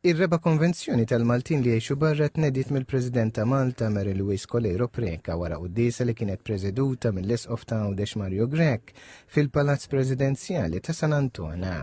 Ir-reba' konvenzjoni tal-Maltin li jgħixu barra tnediet mill-President ta' Malta Mary Louise Coleiro Preca wara quddiesa li kienet preseduta mill-Isqof ta' Għawdex Mario Grech fil-Palazz Presidenzjali ta' San Antona.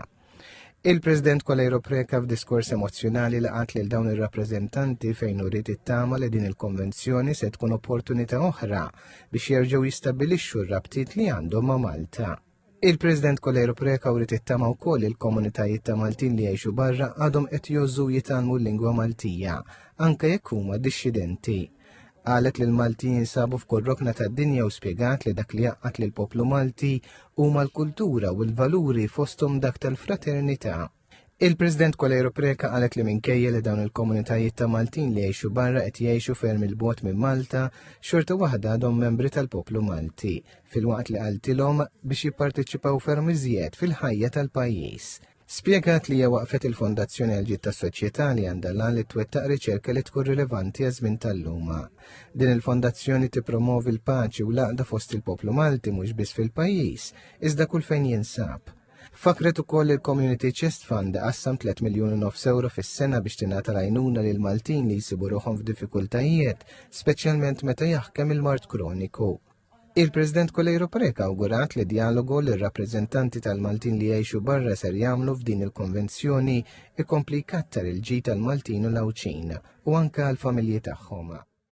Il-President Kolejro Preka f'diskors emozzjonali li qat lil dawn ir-rappreżentanti fejn uriet it-tama li din il-konvenzjoni se tkun opportunità oħra biex jerġgħu jistabbilixxu r-rabtiet li għandhom ma' Malta. Il-President Kolero Preka wrid it-tama wkoll il-komunitajiet ta' Maltin li jgħixu barra għadhom qed jożżu jitalmu l-lingwa Maltija, anke jekk huma dixxidenti. Qalet li l-Maltin jinsabu f'kull rokna tad-dinja u spjegat li dak li jaqqat lil poplu Malti huma l-kultura u l-valuri fosthom dak tal-fraternità. Il-President Coleiro Preca qalet li minkejja li dawn il-komunitajiet ta' Maltin li jgħixu barra qed jgħixu ferm il-bot minn Malta, xorta waħda għadhom membri tal-poplu Malti, filwaqt li qaltilhom biex jipparteċipaw ferm iżjed fil-ħajja tal-pajjiż. Spjegat li hija waqfet il-Fondazzjoni għal ġid tas-soċjetà li għandha l-għan li twettaq riċerka li tkun rilevanti għaż-żmien tal-luma. Din il-fondazzjoni tippromovi l-paċi u l-għaqda fost il-poplu Malti mhux biss fil-pajjiż, iżda kull fejn jinsab. Fakret ukoll il-Community Chest Fund qassam 3 miljun u nofs euro fis-sena biex tingħata l-għajnuna lil Maltin li jsibu ruħhom f'diffikultajiet, speċjalment meta jaħkem il-mard kroniku. Il-President Kolejro Preka awgurat li dialogu li r-rappreżentanti tal-Maltin li jgħixu barra ser jagħmlu f'din il-konvenzjoni ikompli jkattar il-ġid tal-Maltin u l-Għawdxin u anke għall-familji tagħhom.